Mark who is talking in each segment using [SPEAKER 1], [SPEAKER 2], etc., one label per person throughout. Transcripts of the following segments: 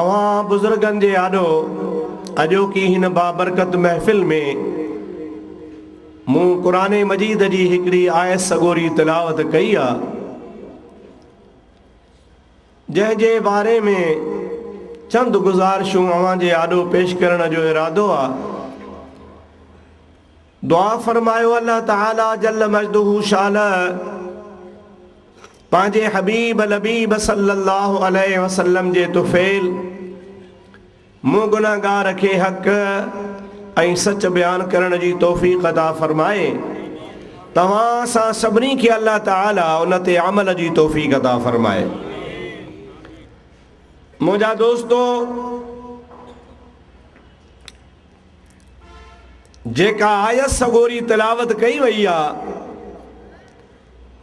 [SPEAKER 1] اوهان بزرگن جي آڏو اڄوڪي هن بابرڪت محفل ۾ مون قرآن مجيد جي هڪڙي آيت سڳوري تلاوت ڪئي آ جنهن جي باري ۾ چند گذارشون اوهان جي آڏو پيش ڪرڻ جو ارادو آ دعا فرمايو الله تعالي جل مجده شاله پنهنجي حبيب لبيب صلّي الله عليه وسلّم جي طفيل مون گنهگار کي حق ۽ سچ بيان ڪرڻ جي توفيق عطا فرمائي توهان اسان سڀني کي الله تعالي ان تي عمل جي توفيق عطا فرمائي منهنجا دوستو جيڪا آيت سڳوري تلاوت ڪئي وئي آ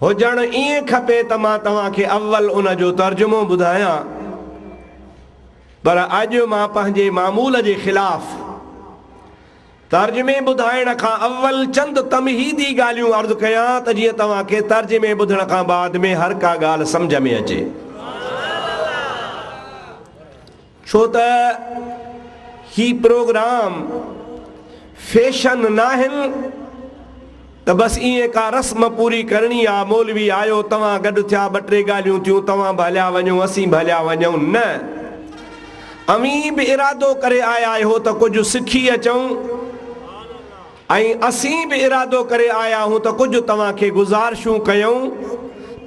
[SPEAKER 1] هجڻ ائين کپي ته مان توهان کي اول ان جو ترجمو ٻڌايان پر اڄ مان پنهنجي معمول جي خلاف ترجمي ٻڌائڻ کان اول چند تمهيدي ڳالهيون عرض ڪيان ته جيئن توهان کي ترجمي ٻڌڻ کان بعد ۾ هر ڪا ڳالهه سمجهه ۾ اچي. ڇو ته هي پروگرام فيشن ناهن ته بس ائين ڪا رسم پوري ڪرڻي آ، مولوي آيو، توهان گڏ ٿيا، ٻه ٽي ڳالهيون ٿيون، توهان به هليا وڃو، اسين به هليا وڃون، نه اوهين به ارادو ڪري آيا آهيو ته ڪجهه سکي اچون. ۽ اسين به ارادو ڪري آيا آهيون ته ڪجهه توهان کي گذارشون ڪيون،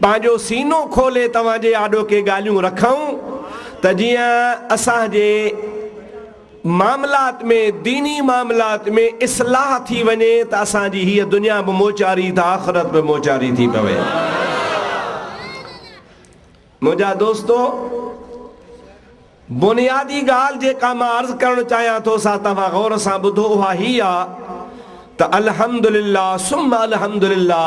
[SPEAKER 1] پنهنجو سينو کولي توهان جي آڏو ڪي ڳالهيون رکون ته جيئن اسان جي معاملات ۾ ديني معاملات ۾ اصلاح ٿي وڃي ته اسان جي هيء دنيا به موچاري ته آخرت به موچاري ٿي پوي. منهنجا دوستو! بنيادي ڳالهه جيڪا مان عرض ڪرڻ چاهيان ٿو سا توهان غور سان ٻڌو اها هي آ ته الحمدلله ثم الحمدلله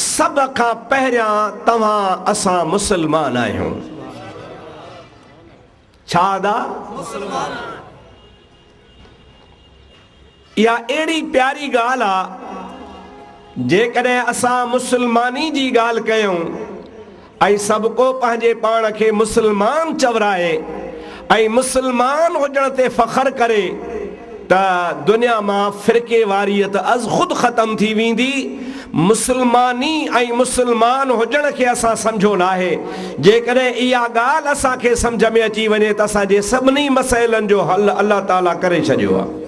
[SPEAKER 1] سڀ کان پهريان توهان اسان مسلمان آهيون. ڇا ادا مسلمان آهن؟ اها اهڙي پياري ڳالهه آ جيڪڏهن اسان مسلماني جي ڳالهه ڪيون ۽ سڀڪو پنهنجي پاڻ کي مسلمان چورائي ۽ مسلمان هجڻ تي فخر ڪري ته دنيا مان فرقيواريت از خود ختم ٿي ويندي، مسلماني ۽ مسلمان هجڻ کي اسان سمجهيو ناهي، جيڪڏهن اها ڳالهه اسان کي سمجهه ۾ اچي وڃي ته اسان جي سڀني مسئلن جو حل الله تعالي ڪري ڇڏيو آهي.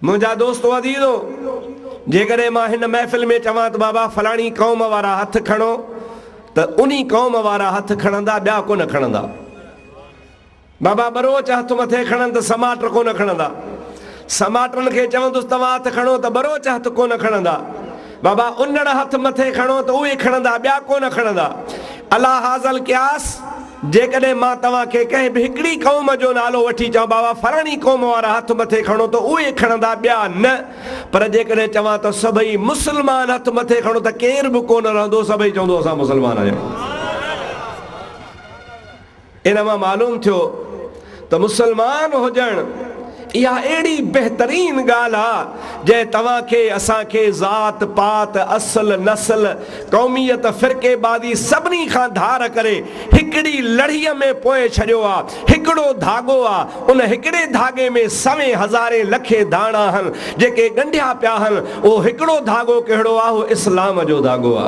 [SPEAKER 1] منهنجا دوستو عزيزو! جيڪڏهن مان هن محفل ۾ چوان ته بابا فلاڻي قوم وارا هٿ کڻو ته انهي قوم وارا هٿ کڻندا ٻيا ڪونه کڻندا. بابا ٻروچ هٿ مٿي کڻن ته سماٽ ڪونه کڻندا. سماٽن کي چوندس توهان هٿ کڻو ته ٻروچ هٿ ڪونه کڻندا. بابا انڙ هٿ مٿي کڻو ته اهي کڻندا ٻيا ڪونه کڻندا الا هاذا القياس جيڪڏهن مان توهان کي ڪنهن به هڪڙي قوم جو نالو وٺي چوان بابا فلاڻي قوم وارا هٿ مٿي کڻو ته اهي کڻندا ٻيا نه پر جيڪڏهن چوان ته سڀئي مسلمان هٿ مٿي کڻو ته ڪير به ڪونه رهندو سڀئي چوندو اسان مسلمان آهيون. ان مان معلوم ٿيو ته مسلمان هجڻ اها اهڙي بهترين ڳالهه آ جنهن توهان کي اسان کي ذات پات اصل نسل قوميت فرقي بازي سڀني کان ڌار ڪري هڪڙي لڙهي ۾ پوئي ڇڏيو آ هڪڙو ڌاڳو آ ان هڪڙي ڌاڳي ۾ سوين هزارين لکين ڌاڻا آهن جيڪي ڳنڍيا پيا آهن اهو هڪڙو ڌاڳو ڪهڙو آ اهو اسلام جو ڌاڳو آ.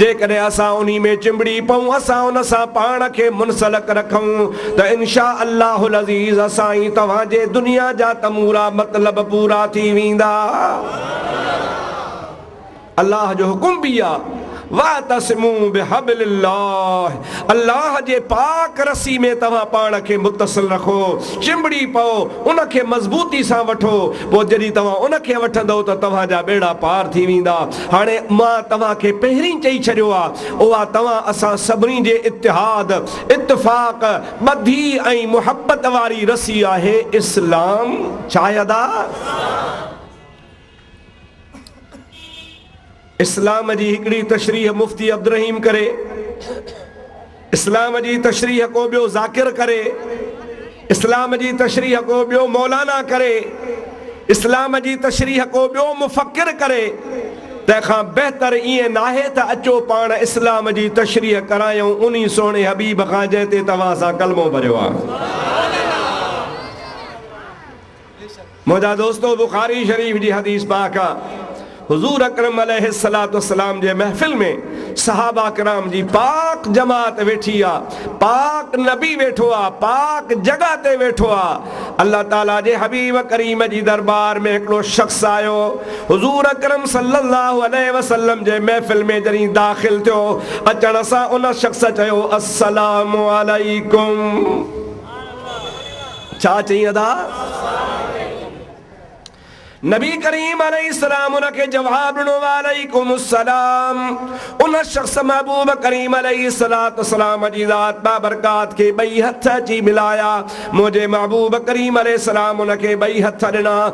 [SPEAKER 1] جيڪڏهن اسان انهي ۾ چنبڙي پئون، اسان ان سان پاڻ کي منسلڪ رکون ته ان شاء الله العزيز اسان ۽ توهان جي دنيا جا تمورا مطلب پورا ٿي ويندا. الله جو حڪم به اهي آهي، واعتصمو بحبل الله، الله جي پاڪ رسي ۾ توهان پاڻ کي متصل رکو، چنبڙي پئو، ان کي مضبوطي سان وٺو، پوء جڏهن توهان ان کي وٺندؤ ته توهان جا ٻيڙا پار ٿي ويندا. هاڻي مان توهان کي پهرين چئي ڇڏيو آ، اها توهان اسان سڀني جي اتحاد، اتفاق، ٻڌي ۽ محبت واري رسي آهي اسلام. شاهداء! اسلام جي هڪڙي تشريح مفتي عبدالرحيم ڪري. اسلام جي تشريح ڪو ٻيو ذاڪر ڪري، اسلام جي تشريح ڪو ٻيو مولانا ڪري، اسلام جي تشريح ڪو ٻيو مفڪر ڪري، تنهن کان بهتر ائين ناهي ته اچو پاڻ اسلام جي تشريح ڪرايون انهي سهڻي حبيب کان جنهن تي توهان سان ڪلمو ڀريو آ. منهنجا دوستو! بخاري شريف جي حديث پاڪ آ، حضور اڪرم عليه الصلوة والسلام جي محفل ۾ صحابه ڪرام جي پاڪ جماعت ويٺي آ، پاڪ نبي ويٺو آ، پاڪ جڳهه تي ويٺو آ، الله تعالي جي حبيب ڪريم جي دربار ۾ هڪڙو شخص آيو، حضور اڪرم صلّي الله عليه وسلّم جي محفل ۾ جڏهن داخل ٿيو، اچڻ سان ان شخص چيو، السّلام عليڪم! ڇا چئين ادا؟ نبي ڪريم عليه السلام ان کي جواب ڏنو وعليڪم السلام ان شخص محبوب ڪريم عليه الصلات والسلام جي ذات بابرڪات کي ٻئي هٿ اچي ملايا منهنجي محبوب ڪريم عليه السلام ان کي ٻئي هٿ ڏنا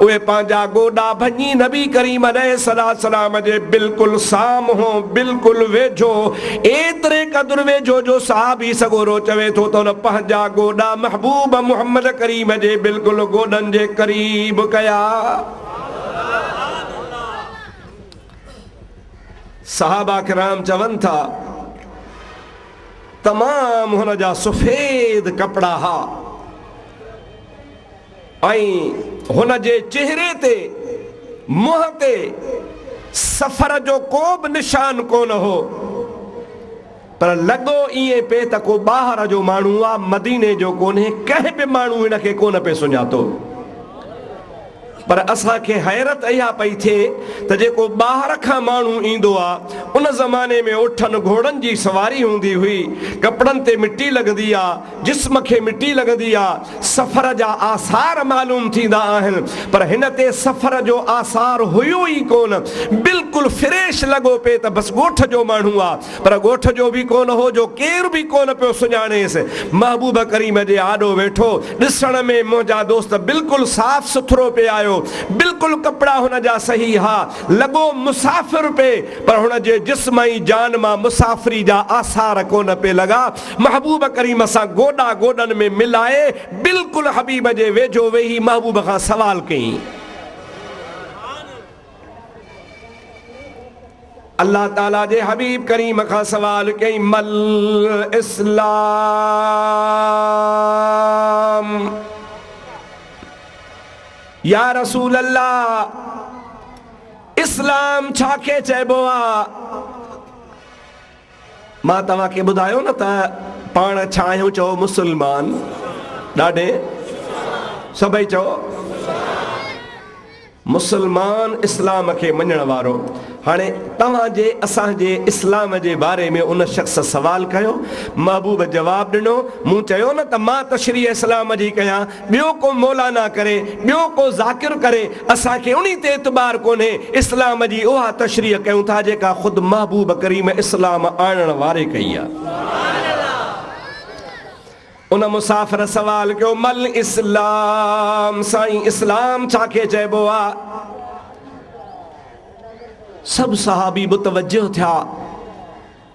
[SPEAKER 1] اهي پنهنجا گوڏا ڀڃي نبي ڪريم عليه السلام جي بلڪل سامهون، بلڪل ويجهو، ايتري قدر ويجهو جو صحابي سڳورو چوي ٿو ته هن پنهنجا گوڏا محبوب محمد ڪريم جي بلڪل گوڏن جي قريب ڪيا. صحابه ڪرام چون ٿا، تمام هن جا سفيد ڪپڙا ها. ۽ هن جي چهري تي، منهن تي، سفر جو ڪو به نشان ڪونه هو، پر لڳو ائين پئي ته ڪو ٻاهر جو ماڻهو آ، مديني جو ڪونهي، ڪنهن به ماڻهو هن کي ڪونه پئي سڃاتو. پر اسان کي حيرت اها پئي ٿئي ته جيڪو ٻاهر کان ماڻهو ايندو آ، ان زماني ۾ اٺن گهوڙن جي سواري هوندي هئي، ڪپڙن تي مٽي لڳندي آ، جسم کي مٽي لڳندي آ، سفر جا آثار معلوم ٿيندا آهن، پر هن تي سفر جو آثار هيو ئي ڪونه، بلڪل فريش لڳو پئي ته بس ڳوٺ جو ماڻهو آ، پر ڳوٺ جو به ڪونه هو جو ڪير به ڪونه پيو سڃاڻيس، محبوب ڪريم جي آڏو ويٺو، ڏسڻ ۾ منهنجا دوست بلڪل صاف سٿرو پئي آيو، بلڪل ڪپڙا هن جا صحيح ها، لڳو مسافر پئي، پر هن جي جسم ۽ جان مان مسافري جا آثار ڪونه پئي لڳا، محبوب ڪريم سان گوڏا گوڏن ۾ ملائي بلڪل حبيب جي ويجهو ويهي محبوب کان سوال ڪيائين. الله تعالي جي حبيب ڪريم کان سوال ڪيائين مل اسلام يا رسول الله اسلام ڇا کي چئبو آ؟ مان توهان کي ٻڌايو نه ته پاڻ ڇا آهيون چئو مسلمان ڏاڍي سڀئي چئو مسلمان اسلام کي مڃڻ وارو هاڻي توهان جي اسان جي اسلام جي باري ۾ ان شخص سوال ڪيو محبوب جواب ڏنو مون چيو نه ته مان تشريح اسلام جي ڪيان ٻيو ڪو مولانا ڪري، ٻيو ڪو ذاڪر ڪري، اسان کي انهي تي اعتبار ڪونهي، اسلام جي اها تشريح ڪيون ٿا جيڪا خود محبوب ڪريم اسلام آڻڻ واري ڪئي آ. ان مسافر سوال ڪيو، مل اسلام، سائين اسلام ڇا کي چئبو آ؟ سڀ صحابي متوجه ٿيا.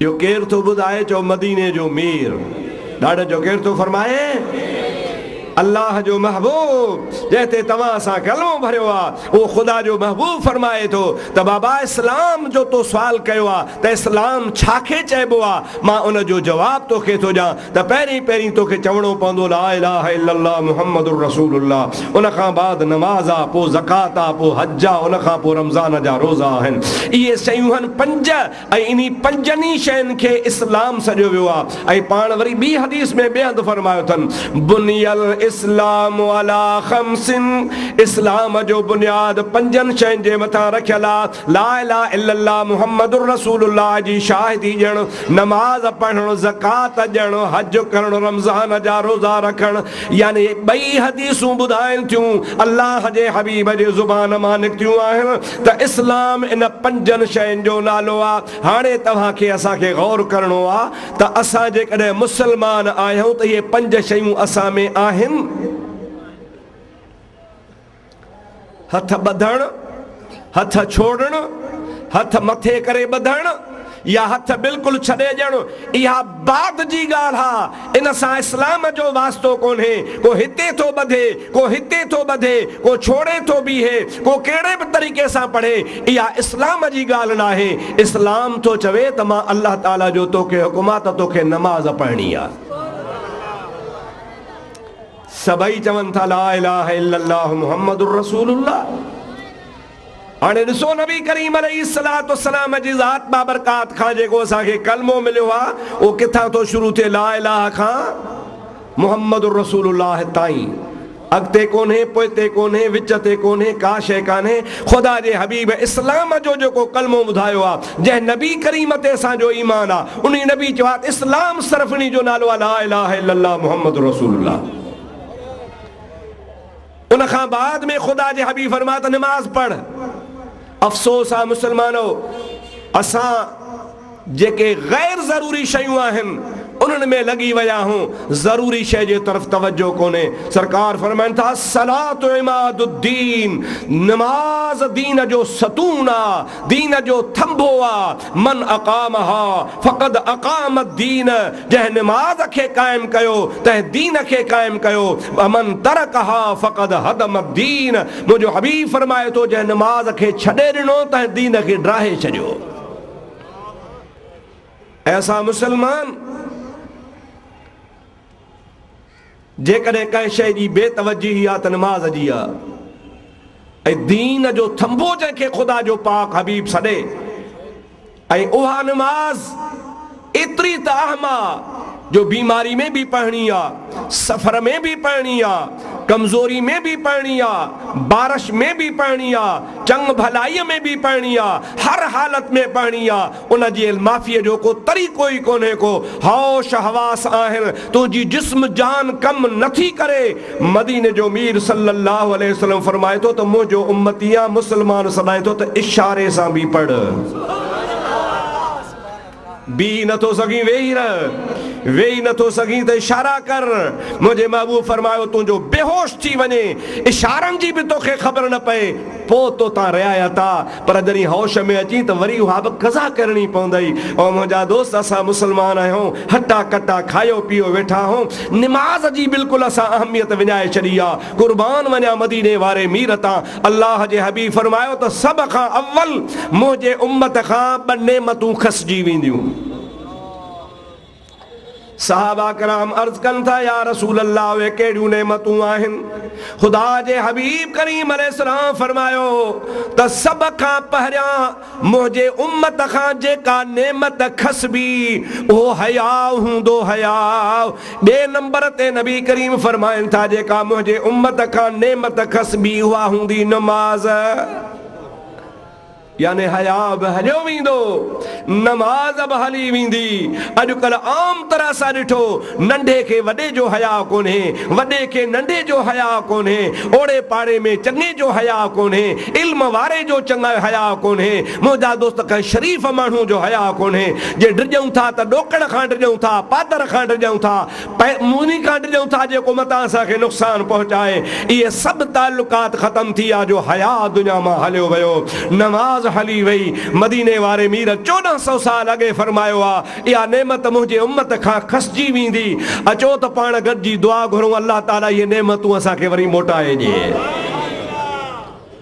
[SPEAKER 1] جو ڪير ٿو ٻڌائي چؤ مديني جو مير ڏاڏن جو ڪير ٿو فرمائي الله جو محبوب جنهن تي توهان سان ڪلمو ڀريو آ اهو خدا جو محبوب فرمائي ٿو ته بابا اسلام جو تو سوال ڪيو آ ته اسلام ڇا کي چئبو آ مان ان جو جواب توکي ٿو ڏيان ته پهرين پهرين توکي چوڻو پوندو لا اله الا الله محمد الرسول الله ان کان بعد نماز آ پو زڪوات آ پو حج آ ان کان پو رمضان جا روزا آهن اهي شيون هن پنج ۽ انهي پنجن ئي شين کي اسلام سڏيو ويو آهي ۽ پاڻ وري ٻي حديث ۾ ٻئي هنڌ فرمايو اٿن، بني الاسلام علی خمس، اسلام جو بنياد پنجن شين جي مٿان رکيل آهي، لا اله الا الله محمد رسول الله جي شاهدي ڏيڻ، نماز پڙهڻ، زڪوات ڏيڻ، حج ڪرڻ، رمضان جا روزا رکڻ، يعني هي ٻئي حديثون ٻڌائين ٿيون الله جي حبيب جي زبان مان نڪتيون آهن، ته اسلام ان پنجن شين جو نالو آ. هاڻي توهان کي اسان کي غور ڪرڻو آ ته اسان جيڪڏهن مسلمان آهيون ته اهي پنج شيون اسان ۾ آهن؟ هٿ ٻڌڻ، هٿ ڇوڙڻ، هٿ مٿي ڪري ٻڌڻ، يا هٿ بلڪل ڇڏي ڄڻ اها بعد جي ڳالهه آ ان سان اسلام جو واسطو ڪونهي ڪو هتي ٿو ٻڌي ڪو هتي ٿو ٻڌي ڪو ڇوڙي ٿو بيهي ڪو ڪهڙي به طريقي سان پڙهي اها اسلام جي ڳالهه ناهي اسلام ٿو چوي ته مان الله تعالي جو توکي حڪم آ ته توکي نماز پڙهڻي آ. سڀئي چون ٿا لا اله الا الله محمد رسول الله. هاڻي ڏسو نبي ڪريم عليه الصلوة والسلام جي ذات بابرڪات کان جيڪو اسان کي ڪلمو مليو آهي اهو ڪٿان ٿو شروع ٿئي لا اله کان محمد رسول الله تائين اڳتي ڪونهي پوئتي ڪونهي وچ تي ڪونهي ڪا شيء ڪانهي خدا جي حبيب اسلام جو جيڪو ڪلمو ٻڌايو آهي جنهن نبي ڪريم تي اسان جو ايمان آهي انهي نبي چيو آهي اسلام صرف انهي جو نالو آهي لا اله الا الله محمد رسول الله. ان کان بعد ۾ خدا جي حبيب فرمايو ته نماز پڙهه. افسوس آ مسلمانو! اسان جيڪي غير ضروري شيون آهن انهن ۾ لڳي ويا آهون، ضروري شيء جي طرف توجهه ڪونهي. سرڪار فرمائن ٿا، الصلاة عماد الدين، نماز دين جو ستون آ، دين جو ٿنڀو آ. من اقامها فقد اقام الدين جنهن نماز کي قائم ڪيو تنهن دين کي قائم ڪيو ومن ترڪها فقد هدم الدين منهنجو حبيب فرمائي ٿو جنهن نماز کي ڇڏي ڏنو تنهن دين کي ڊاهي ڇڏيو اي اسان مسلمان! جيڪڏهن ڪنهن شيء جي بي توجهي آ ته نماز جي آ ۽ دين جو ٿنڀو جنهن کي خدا جو پاڪ حبيب سڏي ۽ اها نماز ايتري ته اهم آ جو بيماري ۾ به پڙهڻي آ، سفر ۾ به پڙهڻي آ، ڪمزوري ۾ به پڙهڻي آ، بارش ۾ به پڙهڻي آ، چڱ ڀلائيء ۾ به پڙهڻي آ، هر حالت ۾ پڙهڻي آ. ان جي المافيء جو ڪو طريقو ئي ڪونهي ڪو هوش حواس آهن تنهنجي جسم جان ڪم نه ٿي ڪري مديني جو مير صلي الله عليه وسلم فرمائي ٿو ته منهنجو امتي يا مسلمان سڏائين ٿو ته اشاري سان به پڙهه بيهي نه ٿو سگهين ويهي رهه ويهي نه ٿو سگهين ته اشارا ڪر منهنجي محبوب فرمايو تنهنجو بيهوش ٿي وڃي اشارن جي به توکي خبر نه پئي پوء تو تان رعايت آ، پر جڏهن هوش ۾ اچين ته وري اها به قضا ڪرڻي پوندئي. او منهنجا دوست! اسان مسلمان آهيون، هٽا ڪٽا کايو پيو ويٺا آهون، نماز جي بلڪل اسان اهميت وڃائي ڇڏي آ. قربان وڃان مديني واري مير تان، الله جي حبيب فرمايو ته سڀ کان اول منهنجي امت کان ٻه نعمتون کسجي وينديون. صحابه ڪرام عرض ڪن ٿا، يا رسول الله اهي ڪهڙيون نعمتون آهن؟ خدا جي حبيب ڪريم عليه السلام فرمايو ته سڀ کان پهريان منهنجي امت کان جيڪا نعمت کسبي اهو حياء هوندو حياء ٻئي نمبر تي نبي ڪريم فرمائن ٿا جيڪا منهنجي امت کان نعمت کسبي اها هوندي نماز. يعني حياء به هليو ويندو، نماز به هلي ويندي. اڄڪلهه عام طرح سان ڏٺو، ننڍي کي وڏي جو حياء ڪونهي، وڏي کي ننڍي جو حياء ڪونهي، اوڙي پاڙي ۾ چڱي جو حياء ڪونهي، علم واري جو چڱي حياء ڪونهي، منهنجا دوست ڪنهن شريف ماڻهو جو حياء ڪونهي، جي ڊڄون ٿا ته ڏوڪڙ کان ڊڄون ٿا، پادر کان ڊڄون ٿا، ۽ موني ڪاٽ ڏيون ٿا جيڪو متان اسان کي نقصان پهچائي اهي سڀ تعلقات ختم ٿي يا جو حياء دنيا مان هليو ويو نماز هلي وئي مديني واري مير چوڏهن سئو سال اڳي فرمايو آ اها نعمت منهنجي امت کان کسجي ويندي اچو ته پاڻ گڏجي دعا گهرون الله تعالي اهي نعمتون اسان کي وري موٽائي ڏي.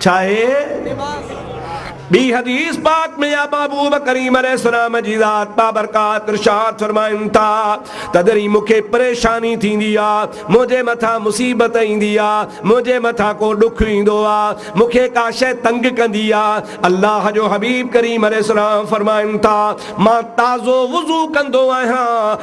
[SPEAKER 1] ڇاهي؟ ٻي حديث پاڪ ۾ يا محبوب ڪريم عليه السلام جي ذات بابرڪات ارشاد فرمائن ٿا ته جڏهن مون کي پريشاني ٿيندي آ، منهنجي مٿان مصيبت ايندي آ، منهنجي مٿان ڪو ڏک ايندو آ، مون کي ڪا شيء تنگ ڪندي آ، الله جو حبيب ڪريم عليه السلام فرمائن ٿا مان تازو وضو ڪندو آهيان،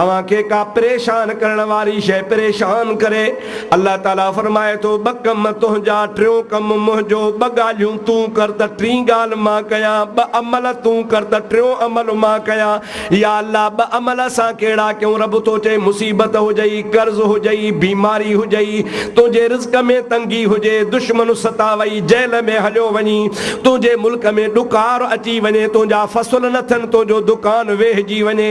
[SPEAKER 1] اوهان کي ڪا پريشان ڪرڻ واري شيء پريشان ڪري؟ الله تعالي فرمائي ٿو، ٻه ڪم تنهنجا، ٽيون ڪم منهنجو، ٻه ڳالهيون تون ڪر ته ٽين ڳالهه مان ڪيان، ٻه عمل تون ڪر ته ٽيون عمل مان ڪيان. يا الله ٻه عمل اسان ڪهڙا ڪيون؟ رب ٿو چئي، مصيبت هجئي، قرض هجئي، بيماري هجئي، تنهنجي رزق ۾ تنگي هجي، دشمن ستاوئي، جيل ۾ هليو وڃين، تنهنجي ملڪ ۾ ڏڪار اچي وڃي، تنهنجا فصل نه ٿين، تنهنجو دڪان ويهجي وڃي،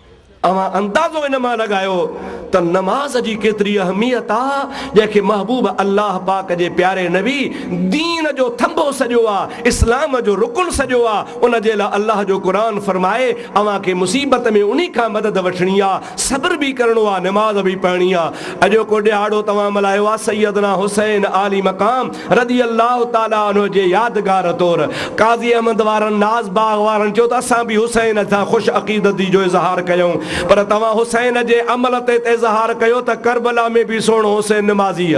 [SPEAKER 1] اوهان اندازو ان مان لڳايو ته نماز جي ڪيتري اهميت آ، جنهن کي محبوب الله پاڪ جي پياري نبي دين جو ٿنڀو سڏيو آ، اسلام جو رڪن سڏيو آ، ان جي لاء الله جو قرآن فرمائي، اوهان کي مصيبت ۾ انهي کان مدد وٺڻي آ، صبر به ڪرڻو آ، نماز به پڙهڻي آ. اڄوڪو ڏهاڙو توهان ملهايو آ سيدنا حسين عالي مقام رضي الله تعالٰي عنه جي يادگار طور قاضي احمد وارن ناز باغ وارن چيو ته اسان به حسين سان خوش عقيدتي جو اظهار ڪيائون پر توهان حسين جي عمل تي ته اظهار ڪيو ته ڪربلا ۾ به سهڻو حسين نمازيء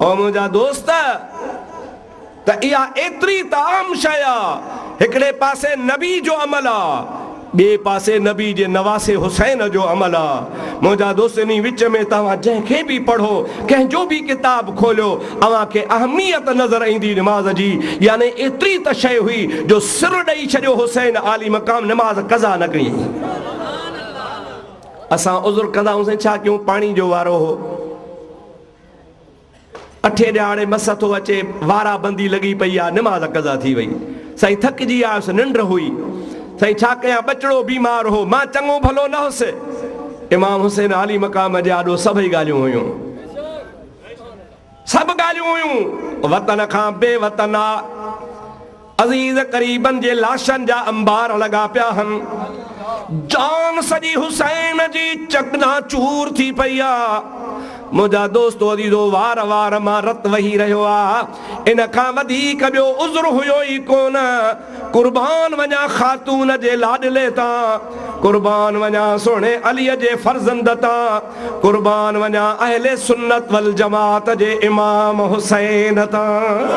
[SPEAKER 1] او منهنجا دوست! ته اها ايتري ته عام شيء آ، هڪڙي پاسي نبي جو عمل آ، ٻئي پاسي نبي جي نواسي حسين جو عمل آ. منهنجا دوست! انهي وچ ۾ توهان جنهن کي به پڙهو، ڪنهن جو به ڪتاب کوليو، اوهان کي اهميت نظر ايندي نماز جي، يعني ايتري ته شيء هئي، جو سر ڏئي ڇڏيو حسين عالي مقام نماز قضا نه ڪيائين. اسان عذر ڪندا هئونسين، ڇا ڪيون پاڻي جو وارو هو. اٺين ڏهاڙي مس ٿو اچي، وارا بندي لڳي پئي آ، نماز قضا ٿي وئي. سائين ٿڪجي آيس، ننڊ هئي. سائين ڇا ڪيان، ٻچڙو بيمار هو، مان چڱو ڀلو نه هوس. امام حسين عالي مقام جي آڏو سڀئي ڳالهيون هيون. سڀ ڳالهيون هيون، وطن کان بي وطن آ. عزيز قريبن جي لاشن جا انبار لڳا پيا هن. جان سڄي حسين جي چڪنا چور ٿي پئي آ. منهنجا دوستو عزيزو وار وار مان رت وهي رهيو آ. ان کان وڌيڪ ٻيو عذر هيو ئي ڪونه. قربان وڃان خاتون جي لاڏلي تان. قربان وڃان سهڻي علي جي فرزند تان. قربان وڃان اهل سنت والجماعت جي امام حسين تان.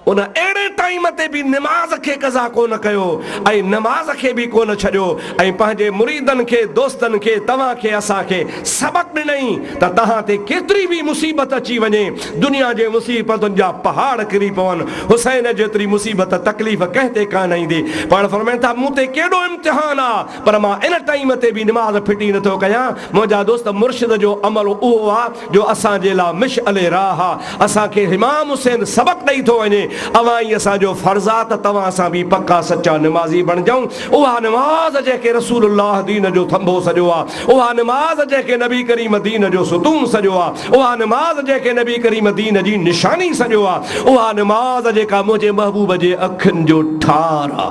[SPEAKER 1] ان اهڙي ٽائيم تي به نماز کي قضا ڪونه ڪيو ۽ نماز کي به ڪونه ڇڏيو ۽ پنهنجي مريدن کي دوستن کي توهان کي اسان کي سبق ڏنئي ته توهان تي ڪيتري به مصيبت اچي وڃي دنيا جي مصيبتن جا پهاڙ ڪري پون حسين جيتري مصيبت تڪليف ڪنهن تي ڪانه ايندي پاڻ فرمائن ٿا مون تي ڪيڏو امتحان آ پر مان ان ٽائيم تي به نماز ڦٽي نه ٿو ڪيان، منهنجا دوست مرشد جو عمل اهو آ جو اسان جي لا مشعل راهه آ، اسان کي امام حسين سبق ڏئي ٿو وڃي، اوهان ئي اسان جو فرض آ ته توهان سان به پڪا سچا نمازي بڻجون، اها نماز جنهن کي رسول الله دين جو ٿنڀو سڏيو آ، اها نماز جنهن کي نبي ڪريم دين جو ستون سڏيو آ، اها نماز جنهن کي نبي ڪريم دين جي نشاني سڏيو آ، اها نماز جيڪا منهنجي محبوب جي اکين جو ٺار آ.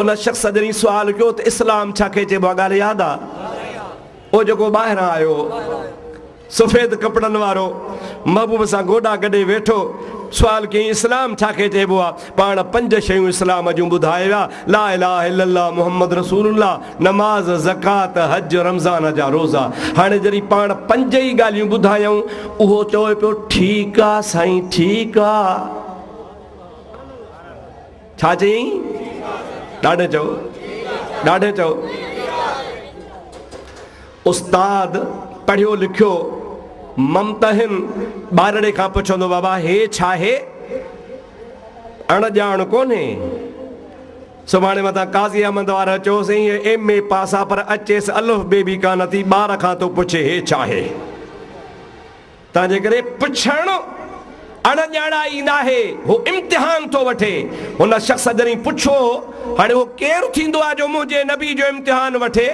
[SPEAKER 1] ان شخص جڏهن سوال ڪيو ته اسلام ڇا کي چئبو آهي ڳالهه ياد آ او جيڪو ٻاهران آيو سفيد ڪپڙن وارو محبوب سان گوڏا گڏي ويٺو سوال ڪيائين اسلام ڇا کي چئبو آ پاڻ پنج شيون اسلام جون ٻڌائي ويا لا اله الا الله محمد رسول الله نماز زڪات حج رمضان جا روزا هاڻي جڏهن پاڻ پنج ئي ڳالهيون ٻڌايائون اهو چوي پيو ٺيڪ آ سائين ٺيڪ آ. ڇا چيئين؟ ڏاڍي چئو، ڏاڍي چئو. استاد پڙهيو لکيو ممتحن ٻارڙي کان پڇندو بابا هي ڇاهي؟ اڻ ڄاڻ ڪونهي. سڀاڻي متان قاضي احمد وارا چيوسين هي ايم اي پاس آ پر اچيس الف بي بي ڪانه ٿي ٻار کان ٿو پڇي هي ڇاهي؟ تنهنجي ڪري پڇڻ اڻ ڄاڻائي ناهي، هو امتحان ٿو وٺي. هن شخص جڏهن پڇو، هاڻي اهو ڪير ٿيندو آهي جو منهنجي نبي جو امتحان وٺي؟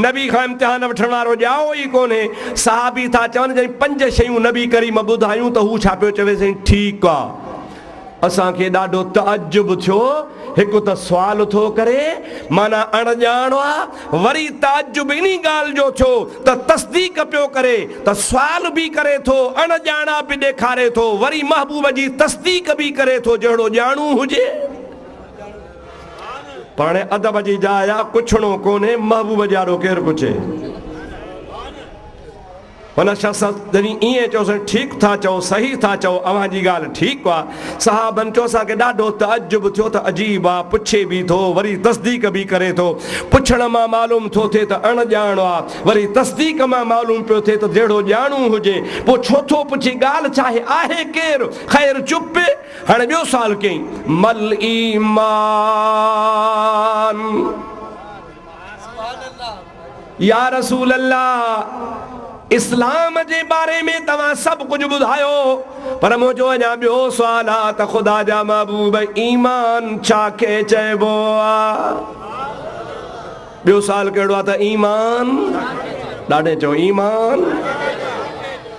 [SPEAKER 1] نبي کان امتحان وٺڻ وارو ڄائو ئي ڪونهي. صحابي ٿا چون، جڏهن پنج شيون نبي ڪريم ٻڌايون ته هو ڇا پيو چوي، سائين ٺيڪ آ. اسان کي ڏاڍو تعجب ٿيو، هڪ ته سوال ٿو ڪري، معنيٰ اڻ ڄاڻ آ، وري تعجب انهي ڳالهه جو ٿيو ته تصديق پيو ڪري ته سوال به ڪري ٿو، اڻ ڄاڻا به ڏيکاري ٿو، وري محبوب جي تصديق به ڪري ٿو جهڙو ڄاڻو هجي. پاڻهي ادب جي جاء آ، پڇڻو ڪونهي، محبوب جي آڏو ڪير پڇي. هن شخص جڏهن ائين چيو سائين ٺيڪ ٿا چئو صحيح ٿا چئو اوهان جي ڳالهه ٺيڪ آ صحابن چيو اسان کي ڏاڍو تعجب ٿيو ته عجيب آ پڇي به ٿو وري تصديق به ڪري ٿو پڇڻ مان معلوم ٿو ٿئي ته اڻ ڄاڻ آ وري تصديق مان معلوم پيو ٿئي ته جهڙو ڄاڻو هجي پو ڇو ٿو پڇي ڳالهه ڇاهي آهي ڪير خير چپ هاڻي ٻيو سوال ڪيئين مل ايمان يا رسول الله! اسلام جي باري ۾ توهان سڀ ڪجهه ٻڌايو، پر منهنجو اڃا ٻيو سوال آهي ته خدا جا محبوب ايمان ڇا کي چئبو آ؟ ٻيو سوال ڪهڙو آ ته ايمان؟ ڏاڍي چئو ايمان؟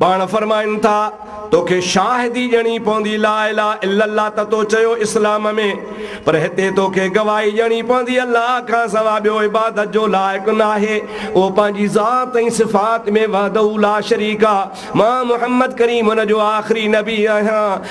[SPEAKER 1] پاڻ فرمائن ٿا، توکي شاهدي ڄڻي پوندي لا اله الا الله ته تو چيو اسلام ۾، پر هتي توکي گواهي ڄڻي پوندي الله کان سوا ٻيو عبادت جو لائق ناهي، اهو پنهنجي ذات ۽ صفات ۾ وحده لا شريڪ آ، مان محمد ڪريم ان جو آخري نبي آهيان.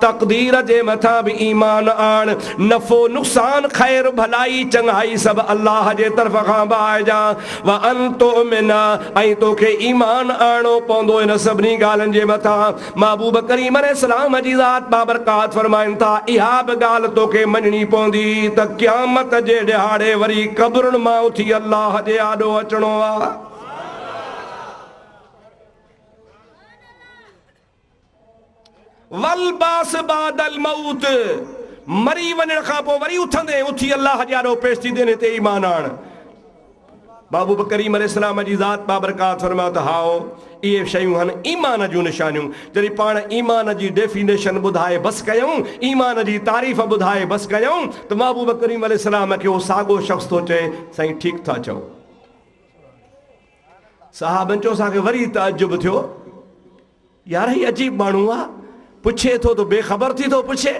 [SPEAKER 1] تقدير جي مٿان به ايمان آڻ، نفعو نقصان، خير ڀلائي، چڱائي سڀ الله جي طرف کان بائجا، وان تؤمن ۽ توکي ايمان آڻڻو پوندو هن سڀني ڳالهين جي مٿان، محبوب ڪريم عليه السلام جي ذات بابرڪات فرمائن ٿا، اها به ڳالهه توکي مڃڻي پوندي ته قيامت جي ڏهاڙي وري قبرن مان اٿي الله جي آڏو اچڻو آ. والبعث بعد الموت، مري وڃڻ کان پوء وري اٿندين، اٿي الله جي آڏو پيش ٿيندين، هتي ايمان آڻ. بابو به ڪريم عليه السلام جي ذات بابرڪات فرمايو ته هائو، اهي شيون هن ايمان جون نشانيون. جڏهن پاڻ ايمان جي ڊيفينيشن ٻڌائي بس ڪيائون، ايمان جي تعريف ٻڌائي بس ڪيائون ته محبوب ڪريم عليه السلام کي اهو ساڳو شخص ٿو چئي، سائين ٺيڪ ٿا چئو. صاحبن چيو اسان کي وري تعجب ٿيو يار هي عجيب ماڻهو آ پڇي ٿو ته بي خبر ٿي ٿو پڇي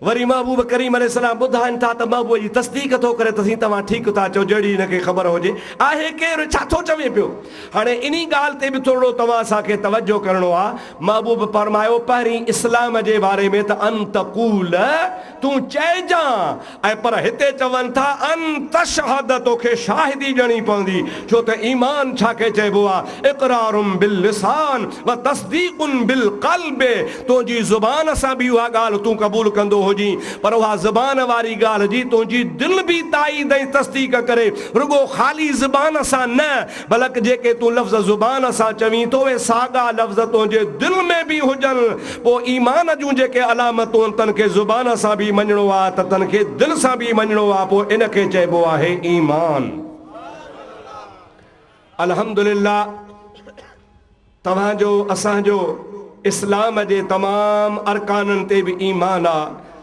[SPEAKER 1] وري محبوب ڪريم عليه السلام ٻڌائن ٿا ته محبوب جي تصديق ٿو ڪري ته سين توهان ٺيڪ ٿا چئو جهڙي هن کي خبر هجي آهي ڪير ڇا ٿو چوي پيو هاڻي انهي ڳالهه تي به ٿورڙو توهان اسان کي توجه ڪرڻو آ محبوب فرمايو پهرين اسلام جي باري ۾ ته ان تقول تون چئجان ۽ پر هتي چون ٿا ان تشهد تو کي شاهدي ڏيڻي پوندي ڇو ته ايمان ڇا کي چئبو آ اقرار باللسان و تصديق بالقلب تنهنجي زبان سان به اها ڳالهه تون قبول ڪندو هجين پر اها زبان واري ڳالهه جي تنهنجي دل به تائيد ۽ تصديق ڪري رڳو خالي زبان سان نه بلڪ جيڪي تون لفظ زبان سان چوين ٿو اهي ساڳا لفظ تنهنجي دل ۾ به هجن، پوء ايمان جون جيڪي علامتون آهن تن کي زبان سان به مڃڻو آهي ته تن کي دل سان به مڃڻو آهي پوء ان کي چئبو آهي ايمان. الحمدلله. توهان جو اسان جو اسلام جي تمام ارڪانن تي به ايمان آ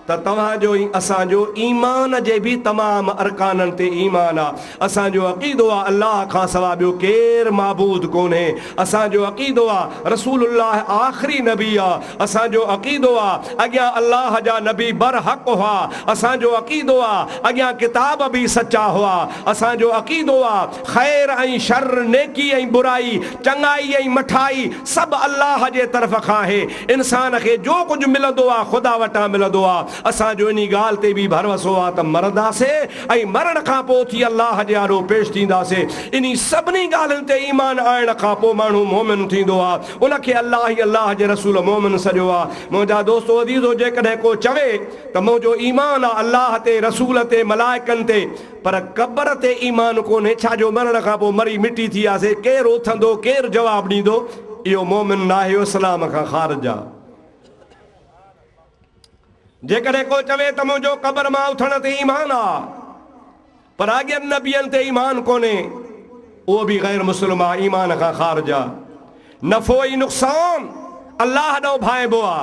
[SPEAKER 1] ته توهان جو ۽ اسان جو ايمان جي به تمام ارڪانن تي ايمان آ. اسان جو عقيدو آ الله کان سوا ٻيو ڪير معبود ڪونهي. اسان جو عقيدو آ رسول الله آخري نبي آ. اسان جو عقيدو آ اڳيان الله جا نبي برحق هئا. اسان جو عقيدو آ اڳيان ڪتاب به سچا هئا. اسان جو عقيدو آ خير ۽ شر، نيڪي ۽ برائي، چڱائي ۽ مٺائي سڀ الله جي طرف کان آهي. انسان کي جو ڪجهه ملندو آهي خدا وٽان ملندو آهي. اسان جو انهي ڳالهه تي به ڀروسو آهي ته مرنداسين ۽ مرڻ کان پوء اٿي الله جي آڏو پيش ٿينداسين. انهي سڀني ڳالهين تي ايمان آڻڻ کان پوء ماڻهو مؤمن ٿيندو آهي. ان کي الله ۽ الله جي رسول مؤمن سڏيو آهي. منهنجا دوستو عزيزو! جيڪڏهن ڪو چوي ته منهنجو ايمان آهي الله تي، رسول تي، ملائڪن تي، پر قبر تي ايمان ڪونهي، ڇا جو مرڻ کان پوء مري مٽي ٿي وياسي، ڪير اٿندو، ڪير جواب ڏيندو، اهو مؤمن ناهي، اهو اسلام کان خارج آ. جيڪڏهن ڪو چوي ته منهنجو قبر مان اٿڻ تي ايمان آ، پر اڳين نبين تي ايمان ڪونهي، اهو به غير مسلم آ، ايمان کان خارج آ. نفعو ۽ نقصان الله ڏانهن ڀانئبو آ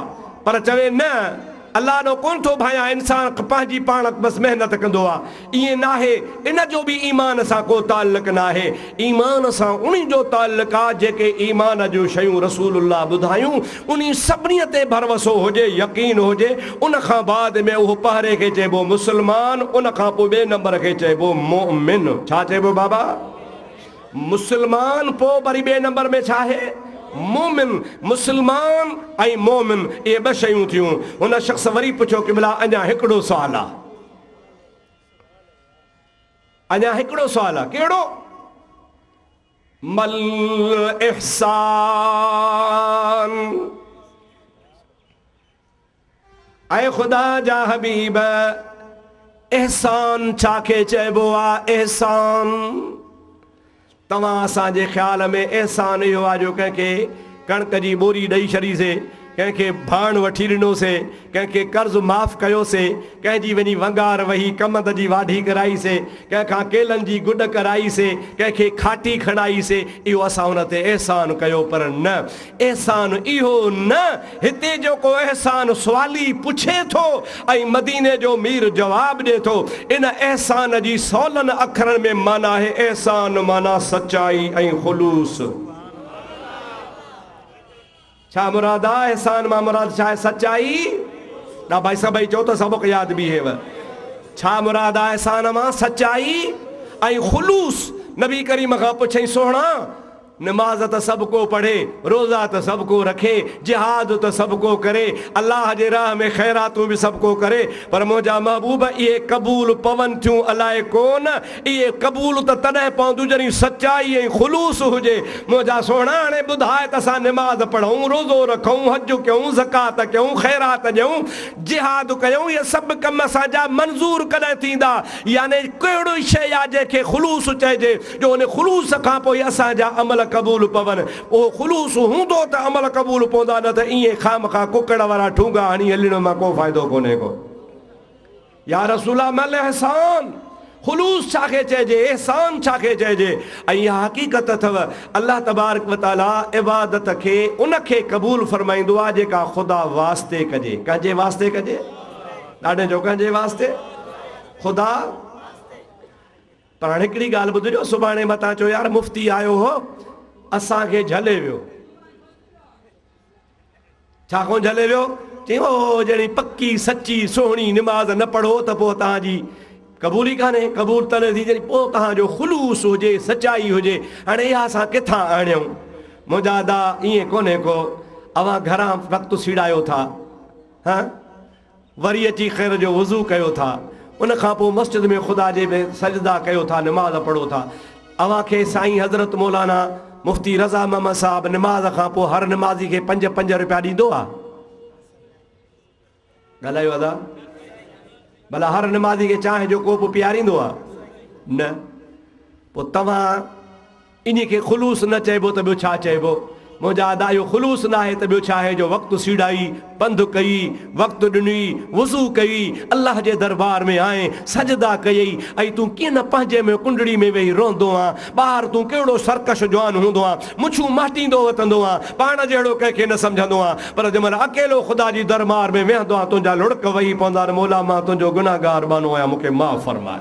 [SPEAKER 1] پر چوي نه الله ڏانهن ڪونه ٿو ڀانئيان انسان پنهنجي پاڻ بس محنت ڪندو آ ائين ناهي ان جو به ايمان سان ڪو تعلق ناهي ايمان سان انهي جو تعلق آ جيڪي ايمان جون شيون رسول الله ٻڌايون انهي سڀني تي ڀروسو هجي يقين هجي ان کان بعد ۾ اهو پهري کي چئبو مسلمان ان کان پوء ٻئي نمبر کي چئبو مؤمن ڇا چئبو بابا؟ مسلمان پوء وري ٻئي نمبر ۾ ڇا آهي؟ مومن. مسلمان ۽ مومن اهي ٻه شيون ٿيون. هن شخص وري پڇيو قبلا اڃا هڪڙو سوال آ. اڃا هڪڙو سوال آ. ڪهڙو؟ مل احسان. اي خدا جا حبيب! احسان ڇا کي چئبو آ؟ احسان توهان اسان جي خيال ۾ احسان اهو آ جو ڪنهن کي ڪڻڪ جي ٻوري ڏئي ڇڏيسي، ڪنهن کي ڀاڻ وٺي ڏنوسي، ڪنهن کي قرض معاف ڪيوسي، ڪنهن جي وڃي ونگار وهي ڪمند جي واڍي ڪرائيسي، ڪنهن کان ڪيلن جي گڏ ڪرائيسي، ڪنهن کي کاٽي کڻائيسي، اهو اسان ان تي احسان ڪيو پر نه! احسان اهو نه هتي جو ڪو احسان سوالي پڇي ٿو ۽ مديني جو مير جواب ڏي ٿو. ان احسان جي سولن اکرن ۾ معنيٰ آهي احسان معنيٰ سچائي ۽ خلوص. ڇا مراد آ احسان مان مراد ڇا آهي سچائي ڏا ڀائي سڀئي چئو ته سبق ياد بيهيو ڇا مراد آ احسان مان سچائي ۽ خلوص نبي ڪريم کان پڇئين سهڻا نماز ته سڀ ڪو پڙهي، روزا ته سڀ ڪو رکي، جهاد ته سڀ ڪو ڪري، الله جي راهه ۾ خيراتون به سڀ ڪو ڪري، پر منهنجا محبوب اهي قبول پون ٿيون الاء ڪونه، اهي قبول ته تڏهن پونديون جڏهن سچائي ۽ خلوص هجي، منهنجا سهڻا هاڻي ٻڌاء ته اسان نماز پڙهون، روزو رکون، حج ڪيون، زڪوات ڪيون، خيرات ڏيون، جهاد ڪيون، اهي سڀ ڪم اسان جا منظور ڪڏهن ٿيندا، يعني ڪهڙي شيء آ جنهن کي خلوص چئجي؟ جو ان خلوص کان پوء اسان جا عمل قبول پون. اهو خلوص هوندو ته عمل قبول پوندا نه ته ائين خامخواه ڪڪڙ وارا ٺونگا هڻي هلڻ مان ڪو فائدو ڪونهي ڪو. يا رسول الله مل احسان، خلوص ڇا کي چئجي، احسان ڇا کي چئجي؟ ۽ اها حقيقت اٿو، الله تبارڪ و تعاليٰ عبادت کي ان کي قبول فرمائيندو آهي جيڪا خدا واسطي ڪجي. ڪنهن جي واسطي ڪجي؟ ڏاڍين چئو ڪنهن جي واسطي؟ خدا. پر هاڻ هڪڙي ڳالهه ٻڌ جو سڀاڻي متان چئو يار مفتي آيو هو اسان کي جهلي ويو ڇا ڪو جهلي ويو چئي او جهڙي پڪي سچي سهڻي نماز نه پڙهو ته پوء توهان جي قبول ئي ڪانهي قبول تڏهن ٿي جڏهن پوء توهان جو خلوص هجي سچائي هجي هاڻي اها اسان ڪٿان آڻيون منهنجا ادا ائين ڪونهي ڪو اوهان گهران وقت سيڙايو ٿا ها وري اچي خير جو وضو ڪيو ٿا ان کان پوء مسجد ۾ خدا جي ۾ سجدا ڪيو ٿا نماز پڙهو ٿا اوهان کي سائين حضرت مولانا مفتي رضا محمد صاحب نماز کان پوء هر نمازي کي پنج پنج روپيا ڏيندو آ ڳالهايو ادا ڀلا هر نمازي کي چانهه جو ڪوپ پياريندو آ نه پوء توهان انهي کي خلوص نه چئبو ته ٻيو ڇا چئبو؟ منهنجا ادا اهو خلوص ناهي ته ٻيو ڇا آهي جو وقت سيڙائي، پنڌ ڪئي، وقت ڏنئي، وضو ڪئي، الله جي دربار ۾ آئين، سجدا ڪيئي ۽ تون ڪيئن نه پنهنجي ۾ ڪنڊڙي ۾ ويهي روئندو آن، ٻاهر تون ڪهڙو سرڪش جوان هوندو آن، مڇون مهٽيندو وتندو آن، پاڻ جهڙو ڪنهن کي نه سمجهندو آن، پر جنهن مهل اڪيلو خدا جي دربار ۾ ويهندو آن تنهنجا لڙڪ وهي پوندا آن، مولا مان تنهنجو گنهگار ٻانهو آهيان مون کي معاف فرماء.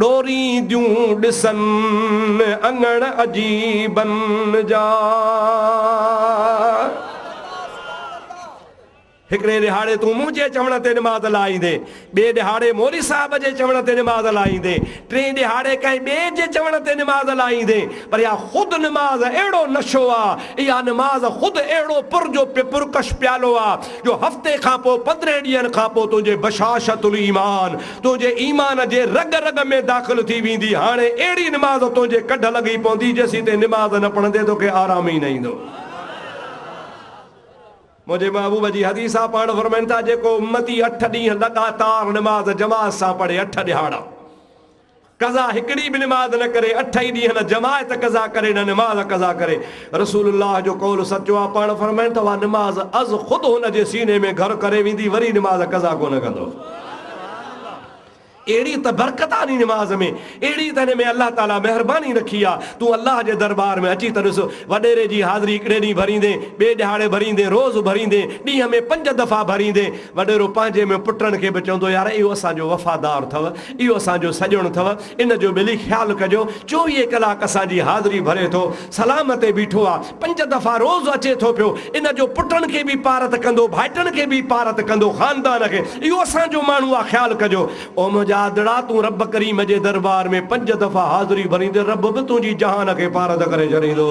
[SPEAKER 1] ڏورينديون ڏسن اڱڻ عجيبن جا. هڪڙي ڏهاڙي تون منهنجي چوڻ تي نماز لائيندين، ٻئي ڏهاڙي مولوي صاحب جي چوڻ تي نماز لائيندين، ٽئين ڏهاڙي ڪنهن ٻئي جي چوڻ تي نماز لائيندين، پر اها خود نماز اهڙو نشو آ، اها نماز خود اهڙو پر جو پرڪش پيالو آ، جو هفتي کان پوء پندرهن ڏينهن کان پوء تنهنجي بشاشة الايمان تنهنجي ايمان جي رڳ رڳ ۾ داخل ٿي ويندي، هاڻي اهڙي نماز تنهنجي ڪڍ لڳي پوندي جيسين تين نماز نه پڙهندين توکي آرام ئي نه ايندو. منهنجي محبوب جي حديث آ پاڻ فرمائن ٿا جيڪو امتي اٺ ڏينهن لڳاتار نماز جماعت سان پڙهي اٺ ڏهاڙا. قضا هڪڙي به نماز نه ڪري اٺ ئي ڏينهن نه جماعت قضا ڪري نه نماز قضا ڪري رسول الله جو قول سچو آهي پاڻ فرمائن ته اها نماز از خود هن جي سيني ۾ گهر ڪري ويندي وري نماز قضا ڪونه ڪندو اهڙي ته برڪت آنهي نماز ۾ اهڙي ته هن ۾ الله تعالي مهرباني رکي آهي تون الله جي دربار ۾ اچي ته ڏس وڏيري جي حاضري هڪڙي ڏينهن ڀريندين ٻئي ڏهاڙي ڀريندين روز ڀريندين ڏينهن ۾ پنج دفعا ڀريندين وڏيرو پنهنجي ۾ پٽن کي به چوندو يار اهو اسان جو وفادار اٿو، اهو اسان جو سڄڻ اٿو، ان جو ڀلي خيال ڪجو، چوويهه ڪلاڪ اسان جي حاضري ڀري ٿو، سلام تي بيٺو آ، پنج دفعا روز اچي ٿو پيو، ان جو پٽن کي به پارت ڪندو، ڀائٽن کي به پارت ڪندو، خاندان کي، اهو اسان جو ماڻهو آ، خيال ڪجو. او منهنجا آڌڙا، تون رب ڪريم جي دربار ۾ پنج دفعا حاضري ڀريندين، رب به تنهنجي جهان کي پارت ڪري ڇڏيندو.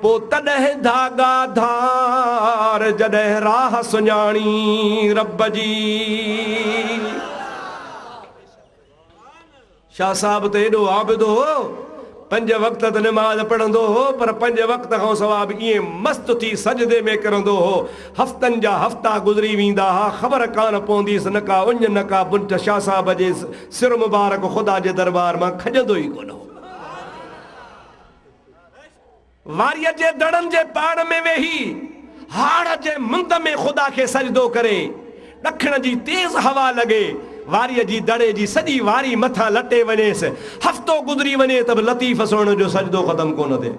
[SPEAKER 1] پوء تڏهن ڌاڳا ڌار جڏهن راھ سڃاڻي رب جي. شاھ صاحب ته ايڏو عابد هو پنج وقت ته نماز پڙهندو هو پر پنج وقت کان سوا به ائين مست ٿي سجدي ۾ ڪرندو هو هفتن جا هفتا گذري ويندا ها خبر ڪانه پونديس نه ڪا اڃ نه ڪا بنٺ شاھ صاحب جي سر مبارڪ خدا جي دربار مان کڄندو ئي ڪونه هو. واريء جي دڙن جي پاڙ ۾ ويهي، هاڙهه جي مند ۾ خدا کي سجدو ڪري. ڏکڻ جي تيز هوا لڳي، واريء جي دڙي جي سڄي واري مٿان لٽي وڃيس. هفتو گذري وڃي ته به لطيف سهڻي جو سجدو ختم ڪونه ٿئي.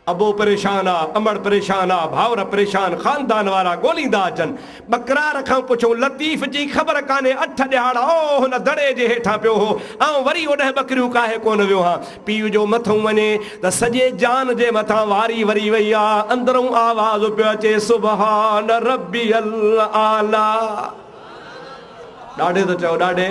[SPEAKER 1] ابو پريشان آ، امڙ پريشان آ، ڀائر پريشان، خاندان وارا ڳوليندا اچن، ٻڪرار کان پڇيو، لطيف جي خبر ڪانهي اٺ ڏهاڙا او هن دڙي جي هيٺان پيو هو، آئون وري اوڏهن ٻڪريون ڪاهي ڪونه ويو هان. پيء جو مٿئون وڃي ته سڄي جان جي مٿان واري وري وئي آ. اندرئون آواز پيو اچي، سبحان ربي الاعليٰ. ڏاڏي ته چئو ڏاڏي.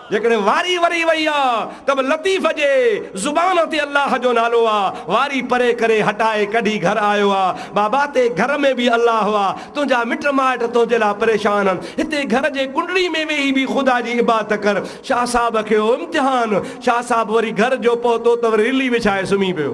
[SPEAKER 1] جيڪڏهن واري وري وئي آ ته به لطيف جي زبان تي الله جو نالو آ، واري پري ڪري هٽائي ڪڍي گهر آيو آ، بابا تي گهر ۾ به الله آ، تنهنجا مٽ مائٽ تنهنجي لاء پريشان آهن، هتي گهر جي ڪنڊڙي ۾ ويهي به خدا جي عبادت ڪر، شاهه صاحب کي هو امتحان، شاهه صاحب وري گهر جو پهتو ته وري رلي وڇائي سمهي پيو.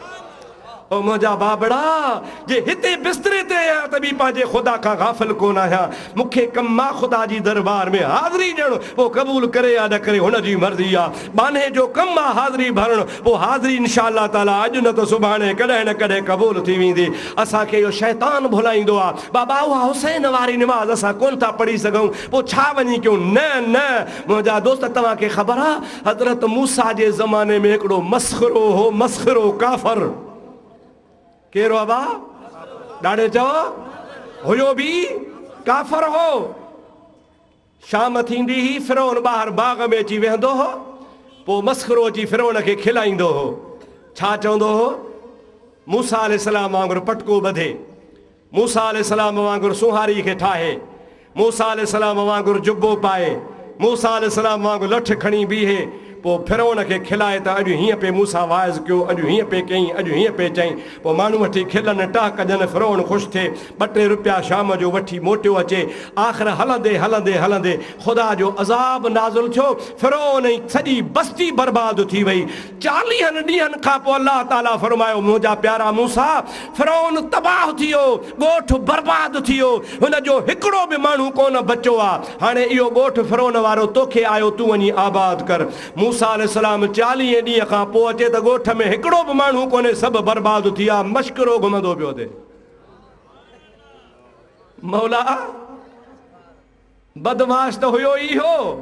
[SPEAKER 1] او منهنجا بابڙا! جي هتي بستري تي آهيان ته به پنهنجي خدا کان غافل ڪونه آهيان. مون کي ڪم مان خدا جي دربار ۾ حاضري ڏيڻ، پوء قبول ڪري يا نه ڪري هن جي مرضي آ. ٻانهي جو ڪم آ حاضري ڀرڻ، پوء حاضري ان شاء الله تعاليٰ اڄ نه ته سڀاڻي ڪڏهن نه ڪڏهن قبول ٿي ويندي. اسان کي اهو شيطان ڀلائيندو آ. بابا اها حسين واري نماز اسان ڪونه ٿا پڙهي سگهون، پوء ڇا وڃي ڪيون؟ نه نه منهنجا دوست توهان کي خبر آ حضرت موسيٰ جي زماني ۾ هڪڙو مسخرو هو مسخرو ڪافر ڪير هو ابا ڏاڙهي چئو هيو به ڪافر هو شام ٿيندي هي فرعون ٻاهر باغ ۾ اچي ويهندو هو پو مسخرو اچي فرعون کي کلائيندو هو ڇا چوندو هو موسيٰ عليه السلام وانگر پٽڪو ٻڌي موسيٰ عليه السلام وانگر سونهاري کي ٺاهي، موسيٰ عليه السلام وانگر جبو پائي، موسيٰ عليه السلام وانگر لٺ کڻي بيهي، پوء فرعون کي کلائي ته اڄ هيئن پئي موسيٰ واعظ ڪيو، اڄ هيئن پئي ڪيئين، اڄ هيئن پئي چئين، پوء ماڻهو وٺي کلن، ٽهڪ ڏين، فرعون خوش ٿئي، ٻه ٽي رپيا شام جو وٺي موٽيو اچي، آخر هلندي هلندي هلندي خدا جو عذاب نازل ٿيو، فرعون ۽ سڄي بستي برباد ٿي وئي، چاليهن ڏينهن کان پوء الله تعاليٰ فرمايو، منهنجا پيارا موسيٰ! فرعون تباهه ٿي ويو، ڳوٺ برباد ٿي ويو، هن جو هڪڙو به ماڻهو ڪونه بچو آ، هاڻي اهو ڳوٺ فرعون وارو تو کي آيو تون وڃي آباد ڪر. موسيٰ عليه السلام چاليهين ڏينهن کان پوء اچي ته ڳوٺ ۾ هڪڙو به ماڻهو ڪونهي سڀ برباد ٿي ويا، مشڪرو گهمندو پيو اٿئي. مولا! بدمعاش ته هيو ئي اهو.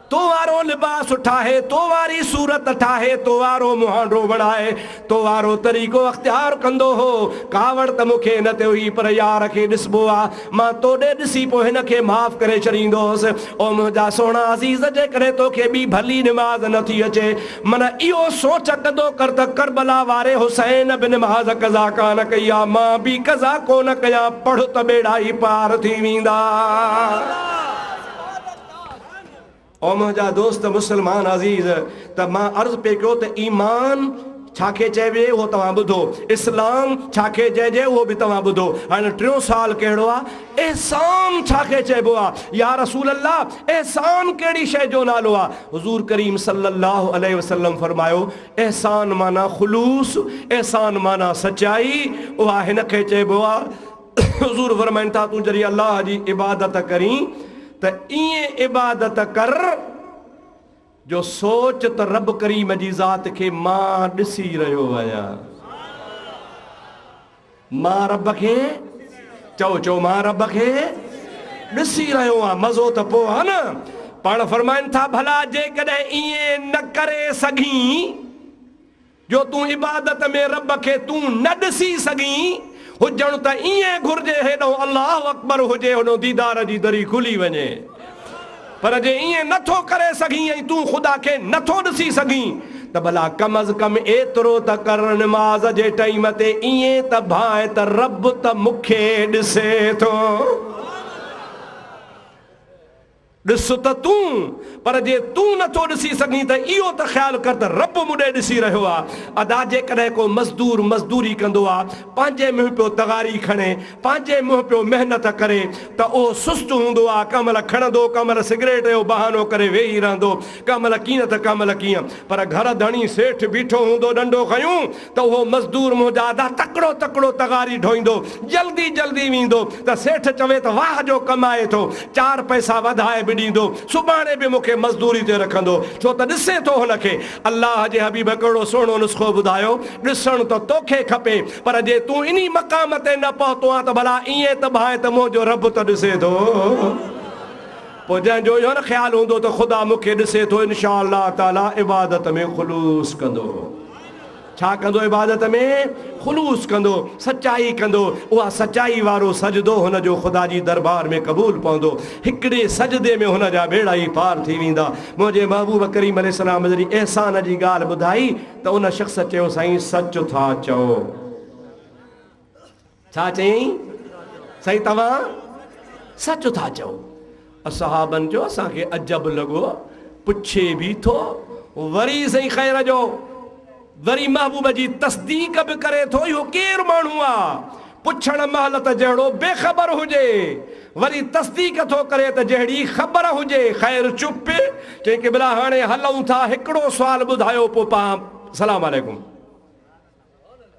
[SPEAKER 1] تو وارو لباس ٺاهي، تو واري صورت ٺاهي، تو وارو مهانڊو بڻائي، تو وارو طريقو اختيار ڪندو هو. ڪاوڙ ته مون کي نه تي هئي پر يار کي ڏسبو آ. مان تو ڏي ڏسي پوء هن کي معاف ڪري ڇڏيندو هوس. او منهنجا سهڻا عزيز جيڪڏهن تو کي ٻي ڀلي نماز نه ٿي اچي من اهو سوچ ڪندو ڪر ته ڪربلا واري حسين به نماز قضا ڪانه ڪئي آ مان به قضا ڪونه ڪيان پڙهه ته ٻيڙا ئي پار ٿي ويندا. او منهنجا دوست مسلمان عزيز! ته مان عرض پئي ڪيو ته ايمان ڇا کي چئبي اهو توهان ٻڌو، اسلام ڇا کي چئجي اهو به توهان ٻڌو، هاڻي ٽيون سوال ڪهڙو آ؟ احسان ڇا کي چئبو آ؟ يا رسول الله! احسان ڪهڙي شيء جو نالو آ؟ حضور ڪريم صلّي اللّٰه عليه وسلّم فرمايو، احسان معنيٰ خلوص، احسان معنيٰ سچائي، اها هن کي چئبو آ، حضور فرمائن ٿا تون جڏهن الله جي عبادت ڪرين ته ائين عبادت ڪر جو سوچ ته رب ڪريم جي ذات کي مان ڏسي رهيو آهيان مان رب کي چئو چئو مان رب کي ڏسي رهيو آهيان مزو ته پوء آهي نه پاڻ فرمائن ٿا ڀلا جيڪڏهن ائين نه ڪري سگهين جو تون عبادت ۾ رب کي تون نه ڏسي سگهين، هجڻ ته ائين گهرجي هيڏهون الله اڪبر هجي هوڏهون ديدار جي دري کلي وڃي پر جي ائين نه ٿو ڪري سگهين ۽ تون خدا کي نه ٿو ڏسي سگهين ته ڀلا ڪم از ڪم ايترو ته ڪر نماز جي ٽئيم تي ائين ته ڀانء ته رب ته مون کي ڏسي ٿو. ڏس ته تون، پر جي تون نه ٿو ڏسي سگهين ته اهو ته خيال ڪر ته رب مون ڏي ڏسي رهيو آ. ادا جيڪڏهن ڪو مزدور مزدوري ڪندو آ، پنهنجي منهن پيو تغاري کڻي، پنهنجي منهن پيو محنت ڪري ته اهو سست هوندو آ، ڪنهن مهل کڻندو، ڪنهن مهل سگريٽ جو بهانو ڪري ويهي رهندو، ڪنهن مهل ڪيئن ته ڪنهن مهل ڪيئن. پر گهر ڌڻي سيٺ بيٺو هوندو ڏنڊو کنيون، ته اهو مزدور منهنجا ادا تڪڙو تڪڙو تغاري ڍوئيندو، جلدي جلدي ويندو ته سيٺ چوي ته واهه جو ڪم آهي ٿو، چار پئسا وڌائي به ڏيندو، سڀاڻي به مون کي مزدوري تي رکندو، ڇو ته ڏسي ٿو هن کي. الله جي حبيب ڪهڙو سهڻو نسخو ٻڌايو، ڏسڻ ته توکي کپي، پر جي تون انهي مقام تي نه پهتو آهين ته ڀلا ائين ته ڀانء ته منهنجو رب ته ڏسي ٿو. پوء جنهن جو اهو نه خيال هوندو ته خدا مون کي ڏسي ٿو، انشاء الله تعالٰي عبادت ۾ خلوص ڪندو. ڇا ڪندو عبادت ۾ خلوص ڪندو، سچائي ڪندو، اها سچائي وارو سجدو هن جو خدا جي دربار ۾ قبول پوندو، هڪڙي سجدي ۾ هن جا ٻيڙا ئي پار ٿي ويندا. منهنجي محبوب ڪريم عليه السلام جڏهن احسان جي ڳالهه ٻڌائي ته ان شخص چيو سائين سچ ٿا چئو. ڇا چيائين؟ سائين توهان سچ ٿا چئو. اصحابن چيو اسان کي عجب لڳو پڇي به ٿو وري سائين خير جو وري محبوب جي تصديق به ڪري ٿو اهو ڪير ماڻهو آ پڇڻ مهل ته جهڙو بي خبر هجي وري تصديق ٿو ڪري ته جهڙي خبر هجي خير چپ چئي قبلا هاڻي هلون ٿا هڪڙو سوال ٻڌايو پوء پاڻ سلام عليڪم.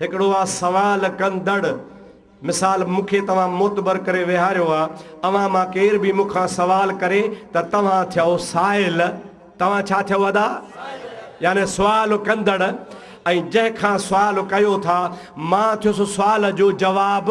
[SPEAKER 1] هڪڙو آ سوال ڪندڙ. مثال مون کي توهان معتبر ڪري ويهاريو آ. اوهان مان ڪير به مون کان سوال ڪري ته توهان ٿيئو سائل. توهان ڇا ٿيئو ادا؟ يعني سوال ڪندڙ. ۽ جنهن کان سوال ڪيو ٿا، مان ٿيس سوال جو جواب.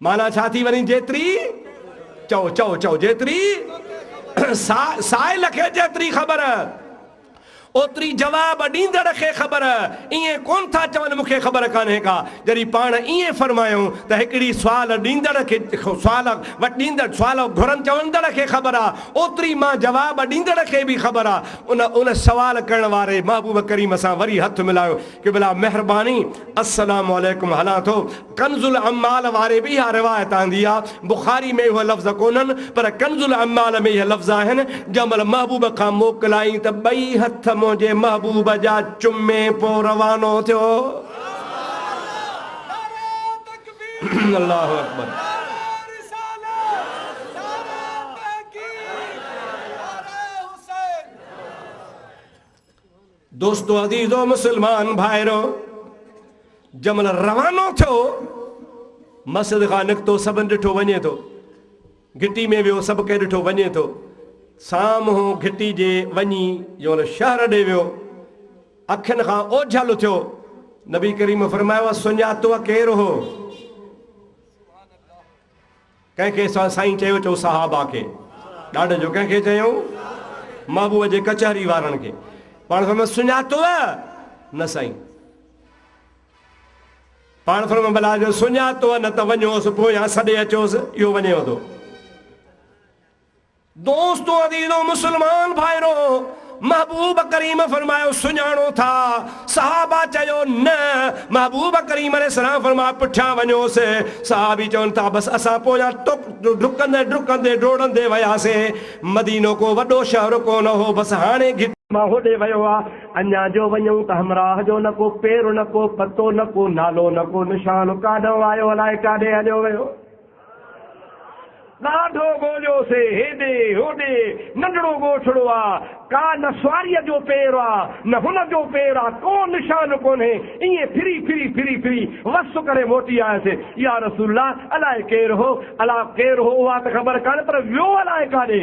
[SPEAKER 1] معنيٰ ڇا ٿي وڃي جيتري چئو چئو چئو جيتري سا سائل کي جيتري خبر اوتري جواب ڏيندڙ کي خبر ائين ڪون ٿا چون مون کي خبر ڪانهي ڪا جڏهن پاڻ ائين فرمايائون ته هڪڙي سوال ڏيندڙ کي سوال وٽيندڙ سوال گهرن چوندڙ کي خبر آ اوتري مان جواب ڏيندڙ کي به خبر آ ان ان سوال ڪرڻ واري محبوب ڪريم سان وري هٿ ملايو قبلا مهرباني السلام عليڪم هلان ٿو. ڪنز العمال واري به اها روايت آندي آ، بخاري ۾ اهي لفظ ڪونهن، پر ڪنز العمال ۾ اهي لفظ آهن، جنهن مهل محبوب کان موڪلائين ته ٻئي هٿ منهنجي محبوب جا چمي پو روانو ٿيو. الله اڪبر. دوستو عزيزو مسلمان ڀائرو! جنهن مهل روانو ٿيو، مسجد کان نڪتو سڀن ڏٺو وڃي ٿو. گهٽي ۾ ويو سڀ ڪنهن ڏٺو وڃي ٿو. سامهون گهٽي جي وڃي جنهن مهل شهر ڏي ويو، اکين کان اوجهل ٿيو. نبي ڪريم فرمايو، سڃاتوء ڪير هو؟ ڪنهن کي سائين چيو چئو صحابه کي ڏاڍ جو ڪنهن کي چيائون محبوب جي ڪچهري وارن کي پاڻ فرمايو سڃاتوء نه سائين پاڻ فرمايو بلا جو سڃاتوء نه ته وڃوس پويان سڏي اچوس اهو وڃيو ٿو دوستو عزيزو مسلمان ڀائرو! محبوب ڪريم فرمايو، سڃاڻو ٿا؟ صحابه چيو، نه! محبوب ڪريم عليه السلام فرمايو، پٺيان وڃوس. صحابي چون ٿا، بس اسان پويان ڊڪندي ڊڪندي ڊوڙندي وياسين. مدينو ڪو وڏو شهر ڪونه هو، بس هاڻي گهٽ. مان هوڏي ويو آ. اڃا جو وڃون ته همراهه جو نه ڪو پير نه ڪو پتو نه ڪو نالو نه ڪو نشان ڪاڏانهن آيو الائي ڪاڏي هليو ويو. ڏاڍو ڳوليوسي، هيڏي هوڏي، ننڍڙو ڳوٺڙو آ، ڪا نه سواريء جو پير آ، نه هن جو پير آ، ڪو نشان ڪونهي، ائين ڦري ڦري ڦري ڦري وس ڪري موٽي آيس. يا رسول الله! الائي ڪير هو؟ الا ڪير هو اها ته خبر ڪانهي، پر ويو الائي ڪاڏي؟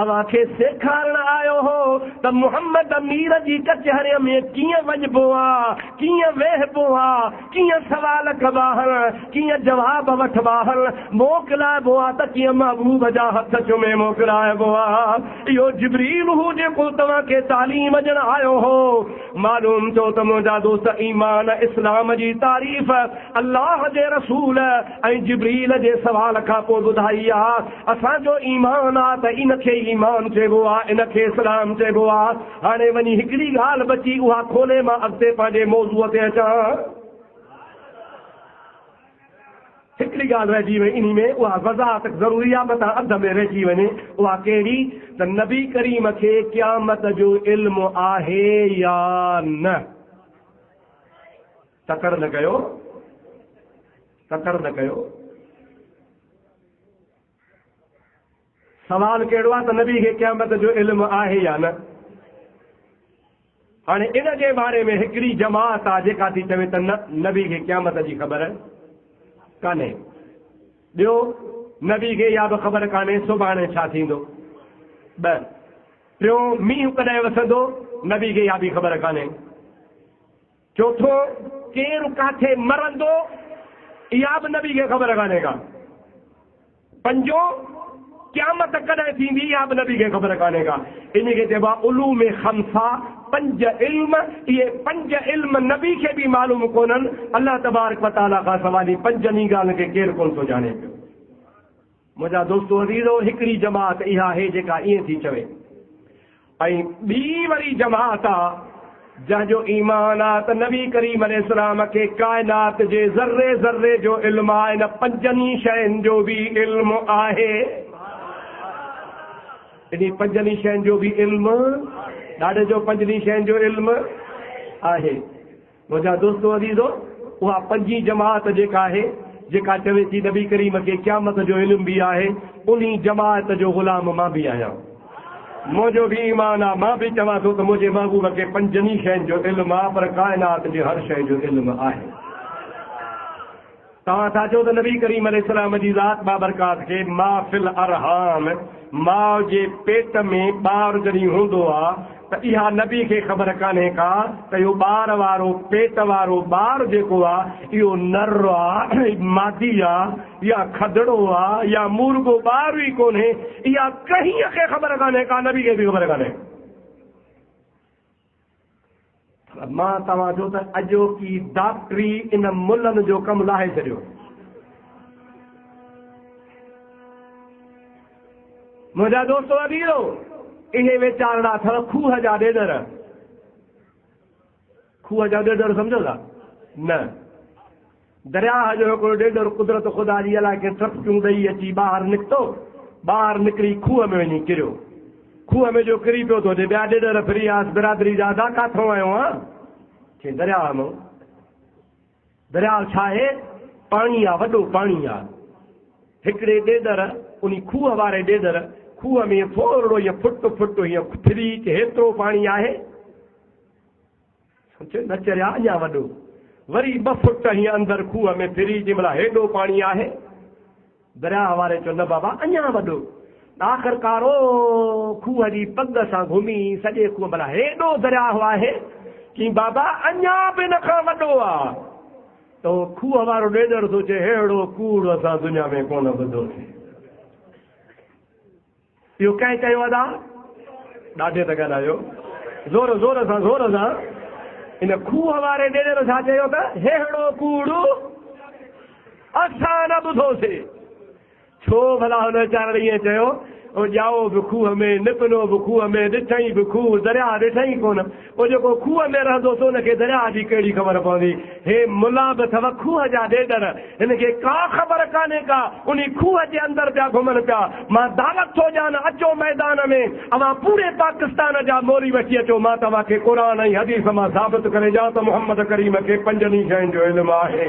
[SPEAKER 1] اوهان کي سيکارڻ آيو هو ته محمد امير جي ڪچهريء ۾ ڪيئن وڃبو آ، ڪيئن ويهبو آ، ڪيئن سوال ڪبا آهن، ڪيئن جواب وٺبا آهن، موڪلائبو آ ته ڪيئن محبوب جا هٿ چمي موڪلائبو آ. اهو جبريل هو جيڪو توهان کي تعليم ڏيڻ آيو هو. معلوم ٿيو ته منهنجا دوست ايمان، اسلام جي تعريف، الله جي رسول، ۽ جبريل جي سوال کان پوء ٻڌائي آ، اسان جو ايمان آ ته ان کي ايمان چئبو آ، ان کي اسلام چئبو آ. هاڻي وڃي هڪڙي ڳالهه بچي اها کولي مان اڳتي پنهنجي موضوع تي اچان. هڪڙي ڳالهه رهجي وئي انهي ۾ اها وضاحت ضروري آ متان اڌ ۾ رهجي وڃي اها ڪهڙي ته نبي ڪريم کي قيامت جو علم آهي يا نه؟ تڪڙ نه ڪيو تڪڙ نه ڪيو. سوال ڪهڙو آهي ته نبي کي قيامت جو علم آهي يا نه؟ هاڻي ان جي باري ۾ هڪڙي جماعت آهي جيڪا ٿي چوي ته نه نبي کي قيامت جي خبر ڪانهي. ٻيو نبي کي اها به خبر ڪانهي سڀاڻي ڇا ٿيندو. ٻه ٽيون مينهن ڪڏهن وسندو نبي کي اها به خبر ڪانهي. چوٿون، ڪير ڪاٿي مرندو، اها به نبي کي خبر ڪانهي ڪا. پنجون، قيامت ڪڏهن ٿيندي، اها به نبي کي خبر ڪانهي ڪا. انهي کي چئبو آهي علوم خمسه، پنج علم. اهي پنج علم نبي کي به معلوم ڪونهن. الله تبارڪ و تعاليٰ کان سواء انهي پنجن ئي ڳالهن کي ڪير ڪونه ٿو ڄاڻي پيو. منهنجا دوستو عزيزو! هڪڙي جماعت اها آهي جيڪا ائين ٿي چوي ۽ ٻي وري جماعت آ جنهن جو ايمان آ ته نبي ڪريم عليه السلام کي ڪائنات جي ذري ذري جو علم آ ان پنجن ئي شين جو به علم آهي انهي پنجن ئي شين جو به علم ڏاڏي جو پنجن ئي شين جو علم آهي. منهنجا دوستو عزيزو! اها پنجين جماعت جيڪا آهي، جيڪا چوي ٿي نبي ڪريم کي قيامت جو علم به آهي، انهي جماعت جو غلام مان به آهيان. منهنجو به ايمان آ، مان به چوان ٿو ته منهنجي محبوب کي پنجن ئي شين جو علم آ، پر ڪائنات جي هر شيء جو علم آهي. توهان ٿا چئو ته نبي ڪريم عليه السلام جي ذات بابرڪات کي ما في الارحام، ماء جي پيٽ ۾ ٻار جڏهن هوندو آ ته اها نبي کي خبر ڪانهي ڪا ته اهو ٻار وارو پيٽ وارو ٻار جيڪو آ اهو نر آ، مادي آ يا کدڙو آ يا مورڳو ٻار ئي ڪونهي، اها ڪنهن کي خبر ڪانهي ڪا نبي کي به خبر ڪانهي. پر مان توهان جو ته اڄوڪي ڊاڪٽري ان ملن جو ڪم لاهي ڇڏيو. منهنجا دوستو اديرو اهي ويچارڙا اٿو کوهه جا ڏيڏر. کوهه جا ڏيڏر سمجهو ٿا؟ نه. درياهه جو هڪڙو ڏيڏر قدرت خدا جي الاهي کي ٽپڪيون ڏئي اچي ٻاهر نڪتو. ٻاهر نڪري کوهه ۾ وڃي ڪريو. کوهه ۾ جو ڪري پيو ته هتي ٻيا ڏيڏر ڦري آيس برادري جا ادا ڪاٿئون آهيو آن؟ چيائين درياهه مئون. درياهه ڇا آهي؟ پاڻي آ وڏو پاڻي آ. هڪڙي ڏيڏر انهي کوهه واري ڏيڏر کوهه ۾ ٿورڙو هيئن ڦٽ ڦٽ هيئن ڦري ته هيترو پاڻي آهي. سوچ نه چريا اڃا وڏو. وري ٻه فٽ هينئن اندر کوهه ۾ ڦري جنهن مهل هيڏو پاڻي آهي. درياهه واري چيو نه بابا اڃا وڏو. آخرڪار او کوهه جي پڳ سان گهمي سڄي کوهه ڀلا هيڏو درياهه آهي؟ چيائين بابا اڃا به ان کان وڏو آ. ته او
[SPEAKER 2] کوهه وارو ڏيڏر ٿو چئي اهڙو ڪوڙ اسان دنيا ۾ ڪونه ٻڌو سي. اهو ڪنهن ڪيو ادا؟ ڏاڍي ته ڳالهايو زور زور سان زور سان ان کوهه واري ڏيڏر ڇا چيو ته ههڙو ڪوڙ اسان نه ٻڌوسي ڇو ڀلا هن ويچارڙ ائين چيو او ڄائو به کوهه ۾ نپنو به کوهه ۾ ڏٺئين به کوهه درياهه ڏٺئين ڪونه پوء جيڪو کوهه ۾ رهندو سو ان کي درياهه جي ڪهڙي خبر پوندي. هي ملا به اٿو کوهه جا ڏيڏر. هن کي ڪا خبر ڪانهي ڪا. انهي کوهه جي اندر پيا گهمن پيا. مان دعوت ٿو ڏيان اچو ميدان ۾ اوهان پوري پاڪستان جا مولوي وٺي اچو مان توهان کي قرآن ۽ حديث مان ثابت ڪري ڏيان ته محمد ڪريم کي پنجن ئي شين جو علم آهي.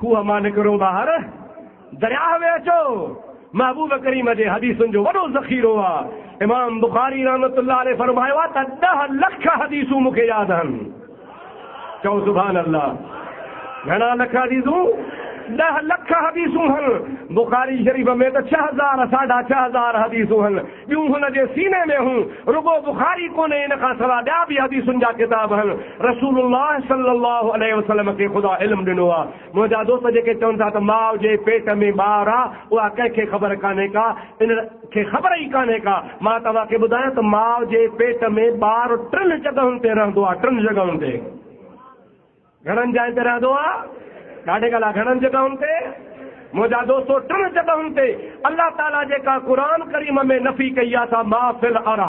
[SPEAKER 2] کوهه مان نڪرو ٻاهر درياهه ۾ اچو محبوب ڪريم جي حديثن جو وڏو ذخيرو آ امام بخاري رحمت الله عليه فرمايو آ ته 10 لک حديثون مون کي ياد آهن چئو سبحان الله گهڻا لک حديثون 10 لک حديثون هن بخاري شريف ۾ ته 6000 ساڍا 6000 حديثون هن ٻيون هن جي سيني ۾ هون. رڳو بخاري ڪونهي ان کان سوا ٻيا به حديثن جا ڪتاب هن رسول الله صلي الله عليه وسلم کي خدا علم ڏنو آ. منهنجا دوست جيڪي چون ٿا ته ماء جي پيٽ ۾ ٻار آ اها ڪنهن کي خبر ڪانهي ڪا ان کي خبر ئي ڪانهي ڪا مان توهان کي ٻڌايان ته ماء جي پيٽ ۾ ٻار ٽن جڳهن تي رهندو آ ٽن جڳهن تي. گهڻن جاين تي رهندو آ. ڏاڍي ڳالهه گهڻن جڳهن تي منهنجا دوستو ٽن جڳهن تي الله تعالي جيڪا قرآن ڪريم ۾ نفي ڪئي آ سا ما في الارا.